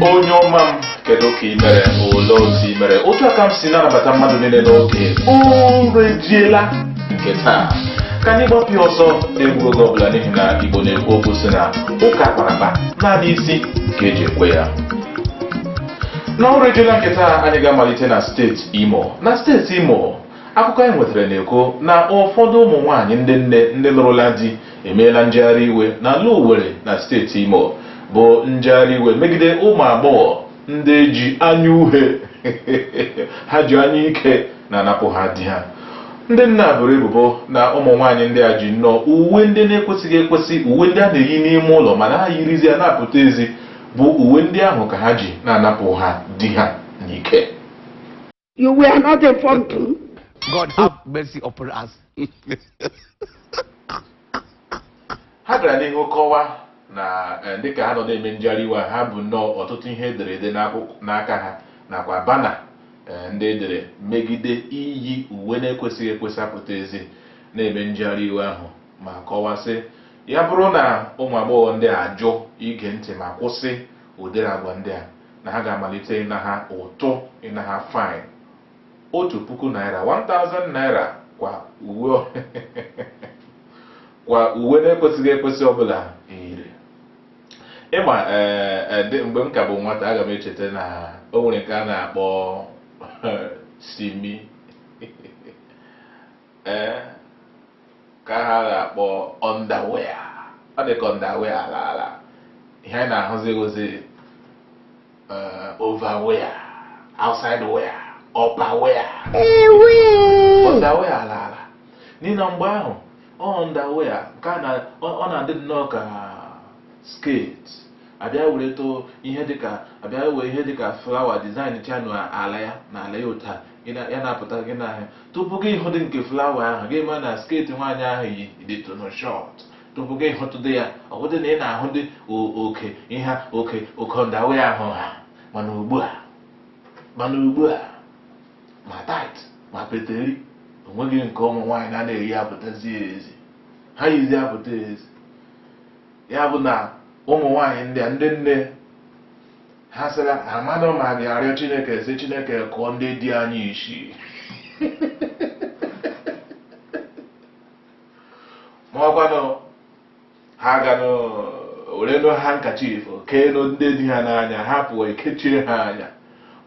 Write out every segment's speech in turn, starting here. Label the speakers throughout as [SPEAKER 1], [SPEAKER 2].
[SPEAKER 1] onye ọma m kedu ka ị mere ole otu ị mere otu a ka m si na-anabata mmadụ niile n'oge ụra ejiela nke taa ka anyị gbapụ ya ọsọ na-egbughị oge ọbụla n'ihi na igbo na-ekwu okwu sị na ụka akpara akpa naanị isi ka eji ekwe ya n'ọrụ ejiela nke taa anyị ga-amalite na steeti imo na steeti imo Akụkọ anyị nwetara na-ekwu na ụfọdụ ụmụ nwaanyị ndị nne ndị lụrụla di emeela njegharị iwe n'ala Owerri na steeti Imo bụ njegharị iwe megide ụmụ agbọghọ ndị ji anya uhie ha ji anya ike na-anapụ ha di ha ndị nne a boro ebubo na ụmụ nwaanyị ndị a ji nnọọ uwe ndị na-ekwesịghị ekwesị uwe ndị a na-eyi n'ime ụlọ mana ha yirizi ya na-apụta ezi bụ uwe ndị ahụ ka ha ji na-anapụ ha di ha n'ike
[SPEAKER 2] You were not informed too.
[SPEAKER 3] God have mercy upon
[SPEAKER 1] us. ha gara n'ihu kọwa na eh, dịka ha nọ na-eme njegharị iwe a, ha bu nnọọ ọtụtụ ihe edere ede n'akwụkwọ- n'aka ha nakwa banner eh, ndị edere megide iyi uwe na-ekwesịghị ekwesị apụta ezi na-eme njegharị iwe ahụ ma kọwaa sị ya bụrụ na ụmụ agbọghọ ndị a ajụ ige ntị ma kwụsị ụdịrị agwa ndị a na ha ga-amalite ịna ha ụtụ ịna ha fine otu puku naira 1000 naira kwa uwe kwa uwe na-ekwesịghị ekwesị ọbụla yiri ịma eh, eh, dị- mgbe m ka bụ nwata aga m echeta na o nwere nke a na-akpọ simi ee ka ha na-akpọ underwear ọ dị ka underwear alaala ihe anyị na-ahụzi bụzi overwear outside wear upper wear underwear alaala n'ihi na mgbe ahụ underwear nke a na- ọ ọ na-adị nnọọ ka skirt a bịa were too ihe dịka a bịa were ihe dịka flower design chanụ ala ya na ala ya otu a gị na- ya na-apụta gị n'ahịa tupu gị hụdị nke flower ahụ gị ma na skirt nwaanyị ahụ yi dịtụnụ short tupu gị hụtụdị ya ọ bụdị na ị na-ahụ dị o- oke ihe oke oke underwear ahụ ha mana ugbu a mana ugbu a ma tight ma peteri onweghị nke ụmụ nwaanyị na na-eyi apụtazi ezi ha yizi apụta ezi ya bụ na ụmụ nwaanyị ndị a ndị nne ha sịra amadụ ma ga-arịọ chineke sị chineke kụọ ndị di anyị isi ma ọkwanụ ha gaanụ werenu handkerchief keenu ndị di ha n'anya ha pụọ ekechie ha anya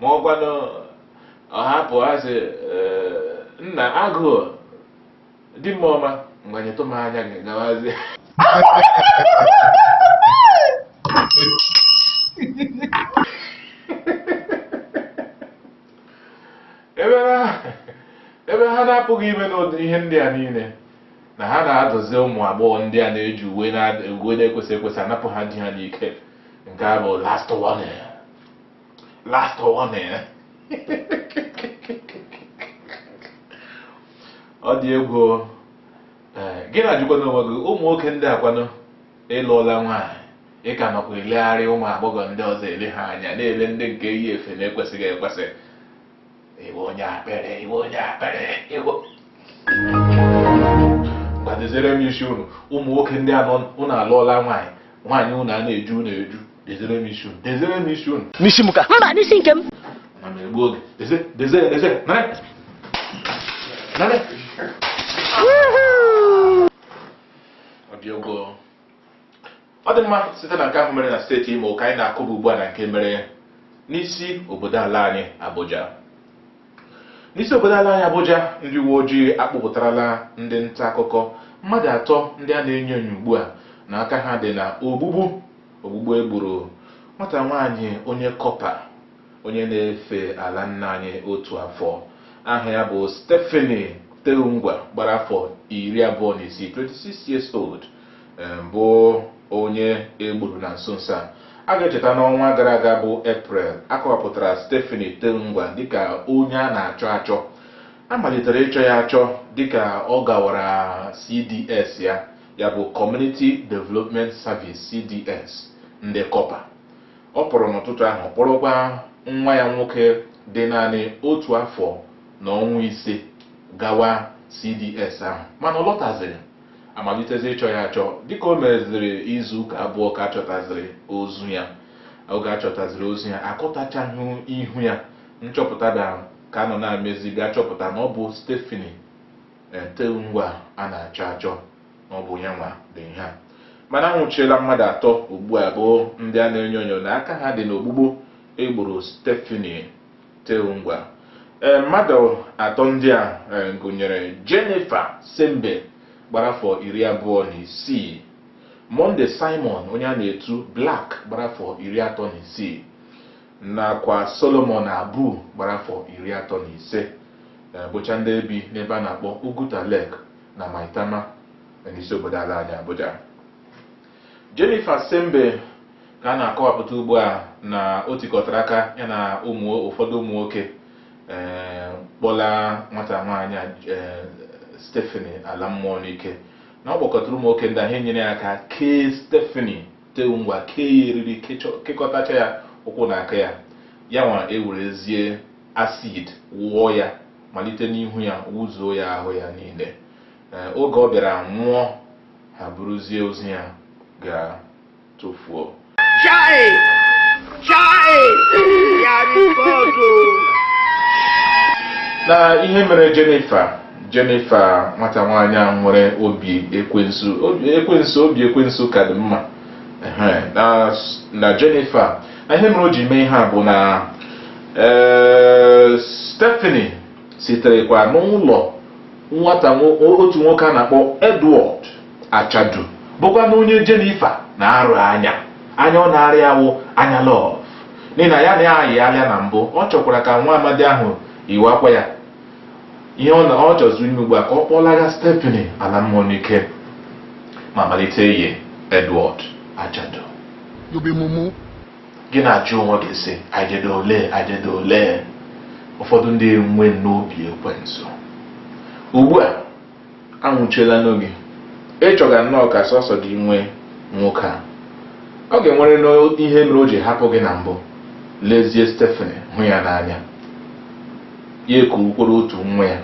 [SPEAKER 1] ma ọkwanụ ọ hapụ ha sị "Ee, nna agụụ di m ọma mgbanyetụ m anya gị gawazi ebe ha na-apụghị ime n'ụdị ihe ndị a niile na ha na-adụzi ụmụ agbọghọ ndị a na-eji uwe na-ekwesịghị ekwesị anapụ ha di ha n'ike nke a bụ last warning last warning ọ dị egwu o. Ee, gị na-ajụkwa n'onwe gị ụmụ nwoke ndị a kwanụ ị lụọla nwaanyị ị ka nọkwa elegharị ụmụ agbọghọ ndị ọzọ ele ha anya na-ele ndị nke yi efe na-ekwesịghị ekwesị ị wụ onye akpịrị ị wụ onye akpịrị ngwa dezere m isi unu ụmụ nwoke ndị a na unu alụọla nwaanyị nwaanyị unu a na-eju unu eju Dezere m isi unu. Dezere m isi unu. N'isi m ka. Mba,
[SPEAKER 4] n'isi nke m. Na m egbu
[SPEAKER 1] oge. Deze, deze, deze. Nare. Nare. Ọ dị egwu. Ọ dị mma site na nke ahụ mere na steeti Imo ka anyị na-akụba ugbu a na nke mere n'isi obodo ala anyị Abuja. N'isi obodo ala anyị Abuja, ndị uwe ojii akpụpụtarala ndị nta akụkọ mmadụ atọ ndị a na-enyo enyo ugbu a na aka ha dị na ogbugbu ogbugbu e gburu nwata nwaanyị onye kọpa onye na-efe ala nna anyị otu afọ aha ya bụ Stephanie Terungwa gbara afọ iri abụọ na isii 26 years old eh, bụ onye e gburu na nso nso a a ga-echeta n'ọnwa gara aga bụ Eprel a kọwapụtara Stephanie Terungwa dịka onye a na-achọ achọ a malitere ịchọ ya achọ dịka ọ gawara CDS ya ya bụ Community Development Service CDS ndị kọpa ọ pụrụ n'ụtụtụ ahụ kpọrọkwa nwa ya nwoke dị naanị otu afọ na ọnwa ise gawa CDS ahụ mana ọ lọtazighị a malitezie ịchọ ya achọ dịka o meziri izu ụka abụọ ka a chọtaziri ozu ya oge a chọtaziri ozu ya akọtachaghị ihu ya nchọpụta da ka a nọ na-emezi bịa chọpụta na ọ bụ Stephanie Terungwa a na-achọ achọ na ọ bụ ya nwa dị ihe a mana a nwụchiela mmadụ atọ ugbu a bụ ndị a na-enyo enyo na aka ha dị n'ogbugbu e gburu Stephanie Terungwa ee mmadụ atọ ndị a e, gụnyere Jennifer Tsembe gbara afọ iri abụọ na isii Monday Simon onye a na-etu Black gbara afọ iri atọ na isii nakwa Solomon Abu gbara afọ iri atọ na ise eh, bụcha ndị bi n'ebe a na-akpọ Uguta Lake na Maitama eh, n'isi obodo ala anyị Abuja Jennifer Tsembe ka a na-akọwapụta ugbu a na o tikọtara aka ya na ụmụ ụfọdụ ụmụ nwoke eh, kpọla nwata nwaanyị a, eh, Stephanie ala mmụọ n'ike na ọ kpọkọtara ụmụ nwoke ndị ahụ enyere ya aka kee Stephanie Terungwa kee ya eriri kekọtacha ya ụkwụ na aka ya ya nwa ewerezie acid wụọ ya malite n'ihu ya wụzuo ya ahụ ya niile oge ọ bịara nwụọ ha buruzie ozu ya ga tụfuo na ihe mere Jennifer Jennifer nwata nwaanyị a nwere obi ekwensu obi ekwensu obi ekwensu ka dị mma Ehe, na na Jennifer na ihe mere o ji mee ihe a bụ na ee, Stephanie siterekwa n'ụlọ nwata nwo- otu nwoke a na-akpọ Edward Achadu bụkwanụ onye Jennifer na-arọ anya anya ọ na-arọ ya wụ anya love n'ihi na ya na ya ayị alịa na mbụ ọ chọkwara ka nwa amadi ahụ yiwakwa ya ihe ọ na-achọzị ime ugbu a ka ọ kpọlaga Stephanie ala mmụọ n'ike ma malite iyi Edward Achadu You be mumu. gị na-ajụ onwe gị sị ajede ole ajede ole ụfọdụ ndị enwe n'obi ekwensu ugbu a a nwụchielanụ gị ị chọga nnọọ ka sọsọ gị nwee nwoke a ọ ga-enwere ihe mere o ji hapụ gị na mbụ lezie Stephanie hụ ya n'anya ya ekukworo otu nwa ya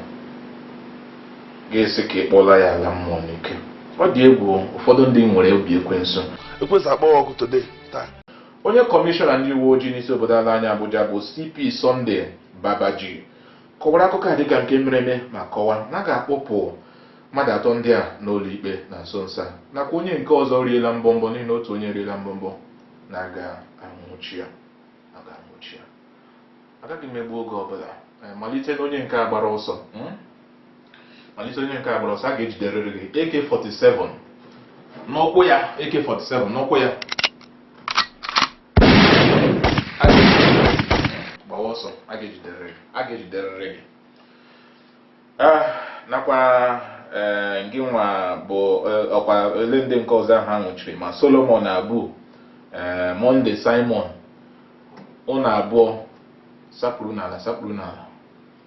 [SPEAKER 1] gị asị ka ị kpọla ya ala mmụọ n'ike ọ dị egwu ụfọdụ ndị nwere obi ekwensu ekwensu kpọọ gị ọkụ today taa onye kọmishọna ndị uwe ojii n'isi obodo ala anyị Abuja bụ CP Sunday Babaji kọwara akụkọ a dịka nke mere eme ma kọwaa na a ga-akpọpụ mmadụ atọ ndị a n'ụlọ ikpe na nso nso a nakwa onye nke ọzọ riela mbọmbọ n'ihi na otu onye riela mbọmbọ na a ga-anwụchi ya a ga-anwụchi ya agaghị m egbu oge ọbụla eh, malite n'onye nke a gbara ọsọ hmm? malite onye nke a gbara ọsọ a ga-ejiderịrị gị AK47 n'ụkwụ ya AK47 n'ụkwụ ya gbawa ọsọ a ga-ejiderịrị gị ah, nakwa eh, gị nwa bụ eh, ọkwa ele ndị nke ọzọ ahụ a nwụchiri ma Solomon Abu eh, Monday Simon ụnụ abụọ sekpuru n'ala sekpuru n'ala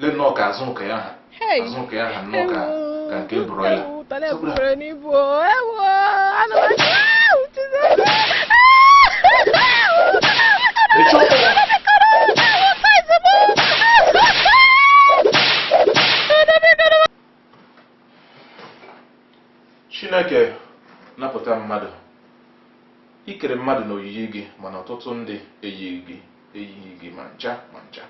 [SPEAKER 1] le nnọọ ka azụ nke ya ha azụ nke ya ha nnọọ ka ka nke broiler chineke napụta mmadụ i kere mmadụ n'oyiyi gị mana ọtụtụ ndị eyighị gị eyighị gị ma ncha ma ncha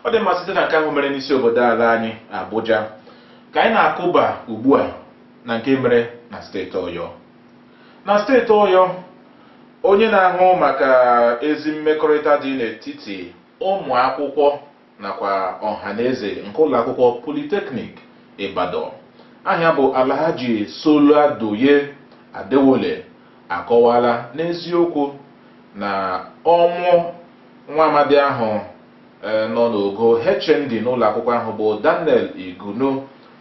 [SPEAKER 1] ọ dị mma site na nke ahụ mere n'isi obodo ala anyị Abuja ka anyị na-akụba ugbu a na nke mere na steeti Ọyọ na steeti Ọyọ onye na-ahụ maka ezi mmekọrịta dị n'etiti ụmụ akwụkwọ nakwa ọhaneze nke ụlọakwụkwọ politeknik Ibadan aha ya bụ Alhaji Soladoye Adewole akọwala n'eziokwu na ọnwụ nwa amadi ahụ e, nọ n'ogo HND n'ụlọakwụkwọ ahụ bụ Daniel Igunu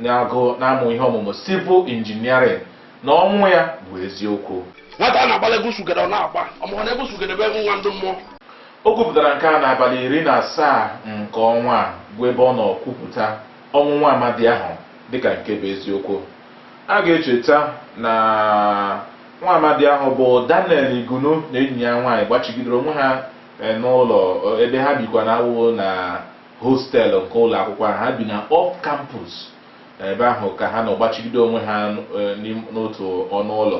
[SPEAKER 1] na-agụ na-amụ ihe ọmụmụ civil engineering na ọnwụ ya bụ eziokwu nwata a na-agbala egwu
[SPEAKER 4] surugede ọ na-agba ọ maghị na egwu surugede bụ egwu nwa ndị mmụọ O
[SPEAKER 1] kwupụtara nke a n'abalị iri na asaa nke ọnwa a bụ ebe ọ nọ kwupụta ọnwụ nwa amadi ahụ dịka nke bụ eziokwu. A ga-echeta na nwa amadi ahụ bụ Daniel Igunu na enyi ya nwaanyị gbachigidere onwe ha e, n'ụlọ ebe ha bikwa na awụ na hostel nke ụlọ akwụkwọ ahụ ha bi na off campus ebe ahụ ka ha nọ gbachigide onwe ha e, n'otu ọnụ ụlọ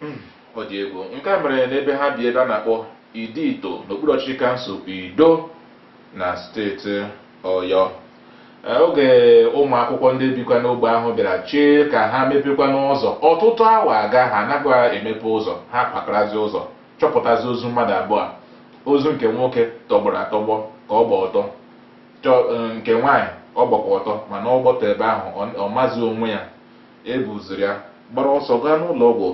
[SPEAKER 1] Hmm, ọ dị egwu nke a mere n'ebe ha bi ebe a na-akpọ Idi Ito n'okpuru ọchịchị kansụl Ido na steeti Ọyọ eh, oge ụmụ akwụkwọ ndị bikwa n'ogbe ahụ bịara chee ka ha mepekwanụ ụzọ ọtụtụ awa aga ha anaghị emepe ụzọ ha kwakarazi ụzọ chọpụtazi ozu mmadụ abụọ ozu nke nwoke tọgbọrọ atọgbọ ka ọ gba ọtọ eh, nke nwaanyị ọ gbakwa ọtọ mana ọ gba ọtọ ebe ahụ ọ mazi onwe ya e buziri ya gbara ọsọ gaa n'ụlọ ọgwụ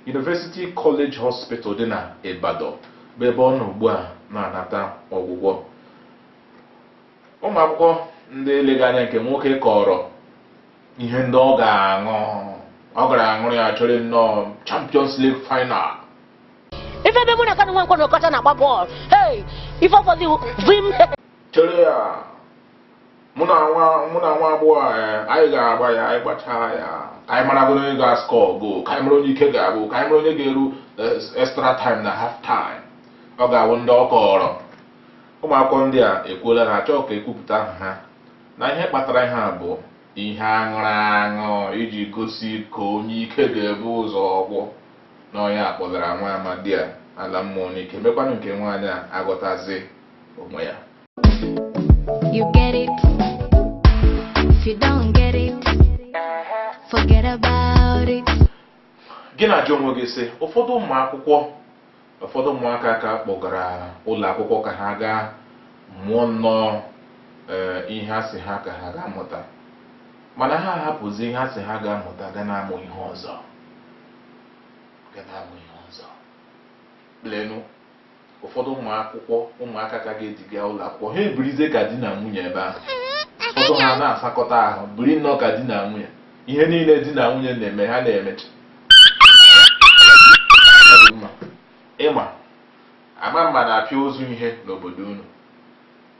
[SPEAKER 1] University College Hospital dị na Ibadan bụ ebe ọ nọ ugbu a na-anata ọgwụgwọ ụmụ akwụkwọ ndị eleghị anya nke nwoke kọrọ ihe ndị ọ ga-aṅụ ọ gara aṅụrụ ya chọrọ nnọọ Champions League
[SPEAKER 5] final ife ebe mụ na Kanu Nwankwo na Okocha na-agba bọọlụ hey ife ọfọdụ vim chọrọ ya
[SPEAKER 1] mụ na nwa mụ na nwa agbọghọ a, eh, anyị ga-agba ya anyị gbachaa ya ka anyị maragoro onye ga-ascore goal ka anyị mara onye ike ga-agwụ ka anyị mara onye ga-eru eh, extra time na half time ọ ga-awụ ndị ọ kọrọ ụmụ akwụkwọ ndị a ekwuola na achọghị ka e kwupụta aha ha na ihe kpatara ihe a bụ ihe a ṅụrụ aṅụ iji gosi ka onye ike ga-ebu ụzọ gwụ na onye a kpọlara nwa amadi a ala mmụọ n'ike mekwanụ nke nwaanyị a aghọtazi onwe ya
[SPEAKER 6] You get it? If you don't get it, forget about it. gị
[SPEAKER 1] na-ajụ onwe gị sị ụfọdụ ụmụ akwụkwọ ụfọdụ ụmụaka ka a kpọgara ụlọ akwụkwọ ka ha gaa mụọ nnọọ ee, ihe a sị ha ka ha gaa mụta mana ha ahapụzi ihe a sị ha gaa mụta gaa na-amụ ihe ọzọ gaa na-amụ ihe ọzọ lenụ ụfọdụ ụmụ akwụkwọ ụmụaka ka a ga-eduga ụlọ akwụkwọ ha ebirizie ka di na nwunye ebe ahụ ụfọdụ ha na-asakọta ahụ biri nnọọ ka di na nwunye ihe niile di na nwunye na-eme ha na-emecha ịma ama mma na-apịa ozu ihe n'obodo unu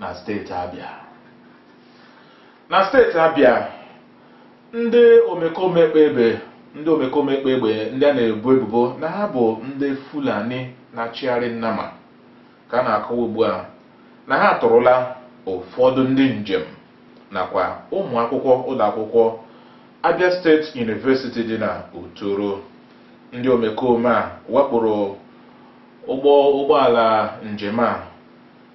[SPEAKER 1] na steeti Abịa na steeti Abịa ndị omekome kpa egbe ndị omekome kpa egbe ndị a na-ebo ebubo na ha bụ ndị Fulani na-achịgharị nnama ka a na-akọwa ugbu a na ha atụrụla ụfọdụ ndị njem nakwa ụmụ akwụkwọ ụlọ akwụkwọ Abia State University dị na Uturu ndị omekome a wakporo ụgbọ ụgbọala njem a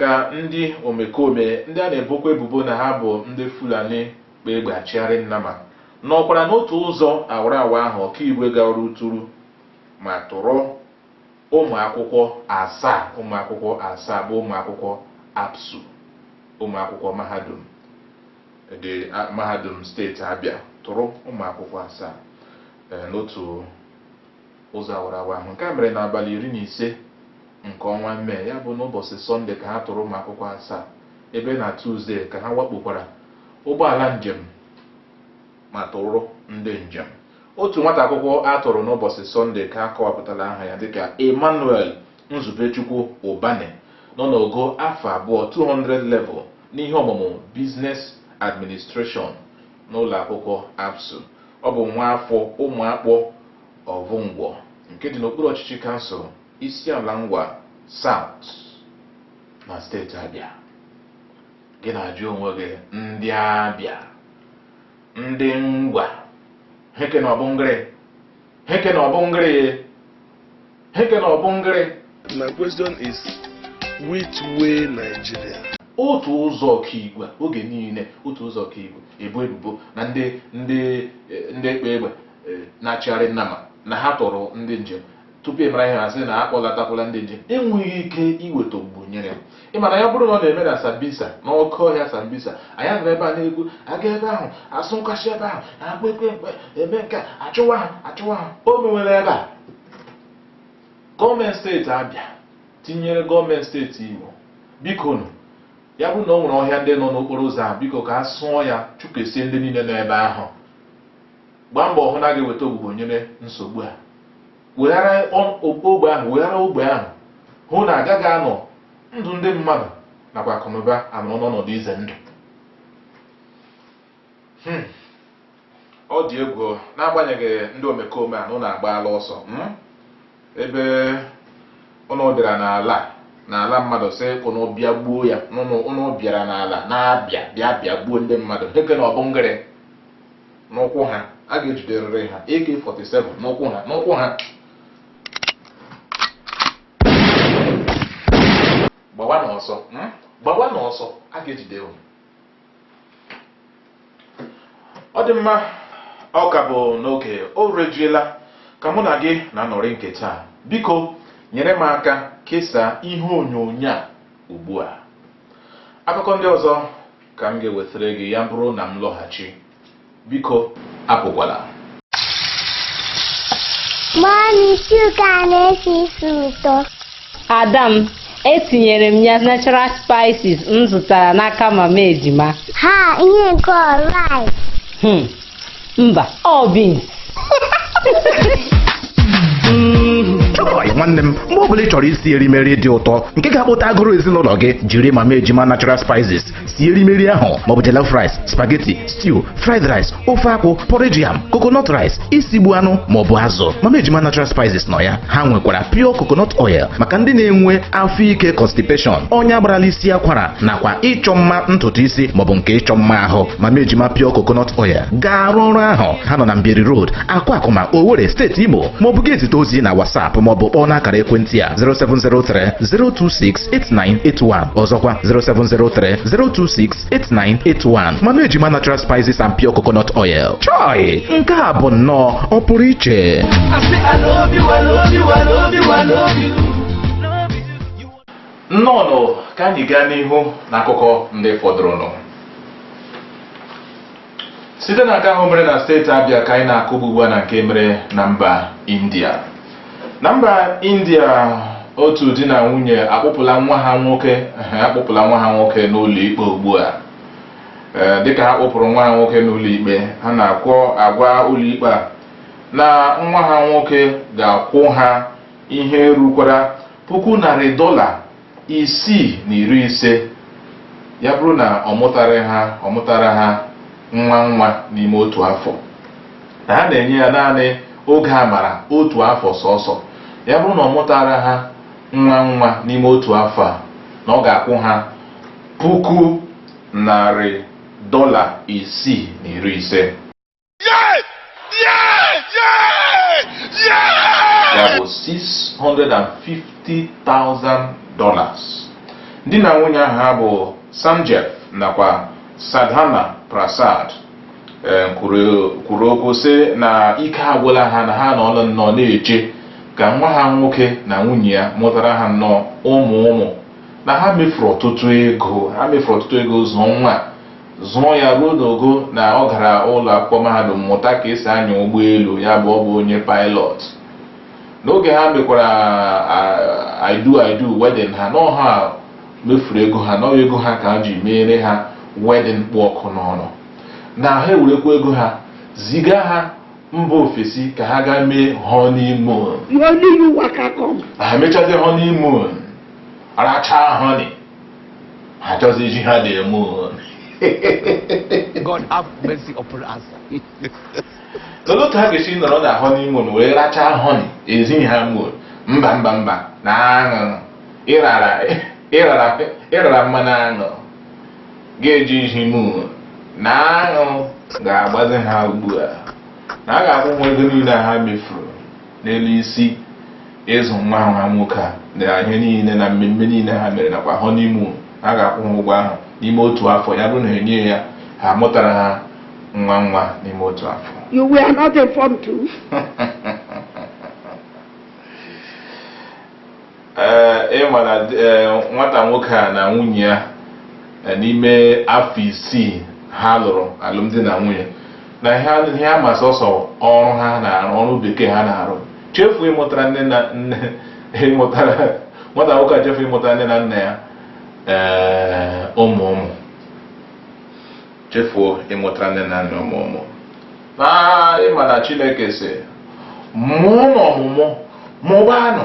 [SPEAKER 1] ka ndị omekome ndị a na-ebokwa ebubo na ha bụ ndị Fulani kpa egbe achịgharị nnama nọkwara n'otu ụzọ awara awa ahụ Okigwe gawara Uturu ma tụrụ ụmụakwụkwọ asaa ụmụakwụkwọ asaa bụ ụmụakwụkwọ ABSU ụmụakwụkwọ mahadum dị mahadum steeti Abịa tụrụ ụmụakwụkwọ asaa n'otu ụzọ awara awa ahụ. Nke a mere n'abalị iri na ise nke ọnwa Mee, ya bụ n'ụbọchị Sọnde ka ha tụrụ ụmụakwụkwọ asaa, ebe na Tuzdee ka ha wakpokwara ụgbọala njem ma tụrụ ndị njem. Otu nwata akwụkwọ a tụrụ n'ụbọchị Sọnde ka a kọwapụtara aha ya dịka Emmanuel Nzubechukwu Ubani nọ n'ogo afọ abụọ 200 level n'ihe ọmụmụ Business Administration n'ụlọakwụkwọ ABSU. Ọ bụ nwaafọ Ụmụakpọ Ovungwu nke dị n'okpuru ọchịchị kansụl Isiala Ngwa South na steeti Abịa. Gị na-ajụ onwe gị ndị Abịa, ndị Ngwa, heke na ọ bụ ngịrị, heke na ọ bụ ngịrị. Heke na ọbụngịrị. My
[SPEAKER 4] question is which way Nigeria? otu
[SPEAKER 1] ụzọ okigwe oge niile otu ụzọ okigwe e bu ebubo na ndị ndị eh, ndị ekpe egbe eh, na-achịgharị nnama na ha tọrọ ndị njem tupu ị mara ihe a sị na a kpọlatakwala ndị njem enweghị ike iweta ogbugbo nyere ị ma na ya bụrụ na ọ na-eme na sambisa n'oke ọhịa sambisa anyị nọrọ ebe a na-ekwu aga ebe ahụ asụ nkwachi ebe ahụ akpa ekwe ekpe eme nke a chụwa ha a chụwa ha o mewere ebe a gọọmenti steeti Abịa tinyere gọọmenti steeti Imo bikonụ ya bụrụ na o nwere ọhịa ndị nọ n'okporo ụzọ a biko ka a sụọ ya chụkesie ndị niile nọ ebe ahụ gbaa mbọ hụ na a ga-eweta ogbugbo nyere nsogbu a weghara ogbe ahụ weghara ogbe ahụ hụ na agaghị anọ ndụ ndị mmadụ nakwa akụnụba anọ n'ọnọdụ ize ndụ hmm. ọ dị egwu n'agbanyeghị ndị omekome a na ụnụ agbaala ọsọ hmm? ebe ụnụ bịara n'ala n'ala mmadụ sị ụnụ bịa gbuo ya ụnụ bịara n'ala na-abịa bịa bịa gbuo ndị mmadụ heke na ọbụngịrị n'ukwu ha a ga-ejiderịrị ha AK47 n'ukwu ha n'ukwu ha gbawanụ ọsọ hmm? gbawanụ ọsọ a ga-ejide unu ọ dị mma ọ ka bụ n'oge o rejiela ka mụ na gị na-anọrị nke taa biko nyere m aka kesaa ihe onyonyo a ugbu a akụkọ ndị ọzọ ka m ga-ewetara gị ya bụrụ na m lọghachi biko
[SPEAKER 7] apụkwala mummy stew gị a na-esi isi ụtọ ada m
[SPEAKER 8] etinyere m ya natural spices m zụtara n'aka mama ejima ha ihe
[SPEAKER 7] nke ọ rice
[SPEAKER 8] hmm, mba ọ
[SPEAKER 9] beans chọị nwanne m mgbe ọ bụla ị chọrọ isi erimeri dị ụtọ nke ga-akpọta agụrụ ezinụlọ gị jiri mama ejima natural spices sie erimeri ahụ maọbụ jollof rice spaghetti stew fried rice ofe akwụ porridge yam coconut rice isigbu anụ maọbụ azụ mama ejima natural spices nọ ya ha nwekwara pure coconut oil maka ndị na-enwe afọ ike constipation ọnya gbarala isi akwara nakwa ịchọ mma ntutu isi maọbụ nke ịchọ mma ahụ mama ejima pure coconut oil ga-arụ ọrụ ahụ ha nọ na mbieri road akwakuma owere steeti imo maọbụ gị ezite ozi na whatsapp maọbụ kpọọ n'akara ekwentị a 0703 026 07030268981 ọzọkwa 07030268981 mama ejima natural spices and pure coconut oil chọị nke a bụ nnọọ ọpụrụiche nnọọnụ
[SPEAKER 1] ka anyị gaa n'ihu n'akụkọ ndị fọdụrụnụ site na nke ahụ mere na steeti abia ka anyị na-akụba ugbu a na nke mere na mba india na mba india otu di na nwunye akpụpụla nwa ha nwoke akpụpụla nwa ha nwoke n'ụlọ ikpe ugbu a dịka ha kpụpụrụ nwa ha nwoke n'ụlọ ikpe ha na-akwu agwa ụlọ ikpe a na nwa ha nwoke ga-akwụ ha ihe rukwara puku narị dọla isii na iri ise ya bụrụ na ọ mụtara ha ọ mụtara ha nwa nwa n'ime otu afọ na ha na-enye ya naanị oge amara otu afọ sọsọ ya bụrụ na ọ mụtara ha nwa nwa n'ime otu afọ a na ọ ga-akwụ ha puku narị dọla isii na iri ise Yes! Yes! Yes! Yes! ya bụ 650,000 dollars di na nwunye ahụ ha bụ Sanjeev nakwa Sadhana Prasad eh, kwuru kwuru okwu sị na ike agwụla ha na ha anọọla nnọọ na-eche ka nwa ha nwoke na nwunye ya mụtara ha nnọọ ụmụ ụmụ na ha mefuru ọtụtụ ego ha mefuru ọtụtụ ego zụọ nwa a. zụọ ya ruo n'ogo na ọ gara ụlọ akwụkwọ mahadum mụta ka esi anya ụgbọelu ya bụ ọ bụ onye pilot n'oge ha mekwara I do I do wedding ha na ọ ha mefuru ego ha na ọ bụ ego ha ka ha ji meere ha wedding kpụ ọkụ n'ọnụ na ha ewerekwa ego ha ziga ha mba ofesi ka ha gaa mee honeymoon ha mechazie honeymoon rachaa honey achọzi izi ha the
[SPEAKER 3] moon God have mercy upon
[SPEAKER 1] us. Olee otu ha ga-esi nọrọ na honeymoon wee rachaa honey ezighị ha moon mba mba mba na aṅụ ịrara mmanụ aṅụ ga-eji iji moon na aṅụ ga-agbazi ha ugbu a na ha ga-akwụ ụgwọ ego niile ha mefuru n'elu isi ịzụ nwa ha nwoke a na ihe niile na mmemme niile ha mere nakwa honeymoon ha ga-akwụ ha ụgwọ ahụ n'ime otu afọ ya bụrụ na enyeghị ha mụtara ha nwa nwa n'ime otu afọ You were not
[SPEAKER 2] informed too.
[SPEAKER 1] ee ị ma na nwata nwoke a na nwunye ya n'ime afọ isii ha lụrụ alụmdi na nwunye na ihe ha ma sọsọ ọrụ ha na-arụ ọrụ bekee ha na-arụ chefuo ịmụtara nne na nne ịmụtara nwata nwoke a chefuo ịmụtara nne na nna ya ee ụmụ ụmụ chefuo ịmụtara nne na nna ụmụ ụmụ na ị ma na Chineke sị mụọnụ ọmụmụ mụbaanụ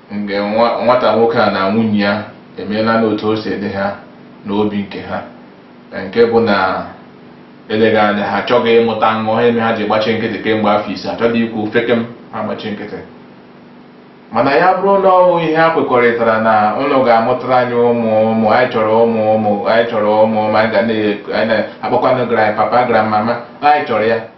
[SPEAKER 1] nke nwata nwoke a na nwunye ya emeela n'otu o si dị ha n'obi nke ha nke bụ na eleghị anya ha achọghị ịmụta nwa mere ha ji gbachi nkịtị kemgbe afọ ise achọghị ikwu ofeke m ha gbachi nkịtị mana ya bụrụ na ọ bụ ihe ha kwekọrịtara na unu ga-amụtara anyị ụmụ ụmụ anyị chọrọ ụmụ ụmụ anyị chọrọ ụmụ ụmụ anyị ga na-akpọkwanụ grandpapa grandmama anyị chọrọ ya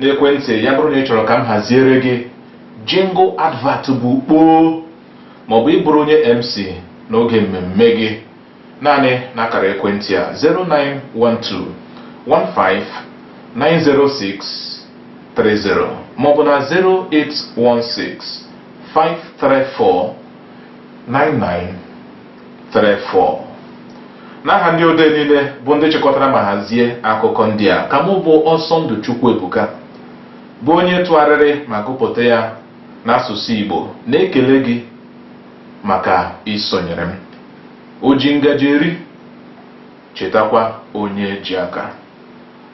[SPEAKER 1] n'ekwentị ya bụrụ na ị chọrọ ka m haziere gị jingle advert bụ kpoo maọbụ ịbụrụ onye mc n'oge mmemme gị naanị n'akara ekwentị a 09121590630 maọbụ na 081653499 34 n'aha ndị odee niile bụ ndị chịkọtara ma hazie akụkọ ndị a ka mụ bụ ọsọndụ chukwuebuka bụ onye tụgharịrị ma gụpụta ya n'asụsụ igbo na-ekele gị maka isonyere m oji ngaji eri chetakwa onye ji aka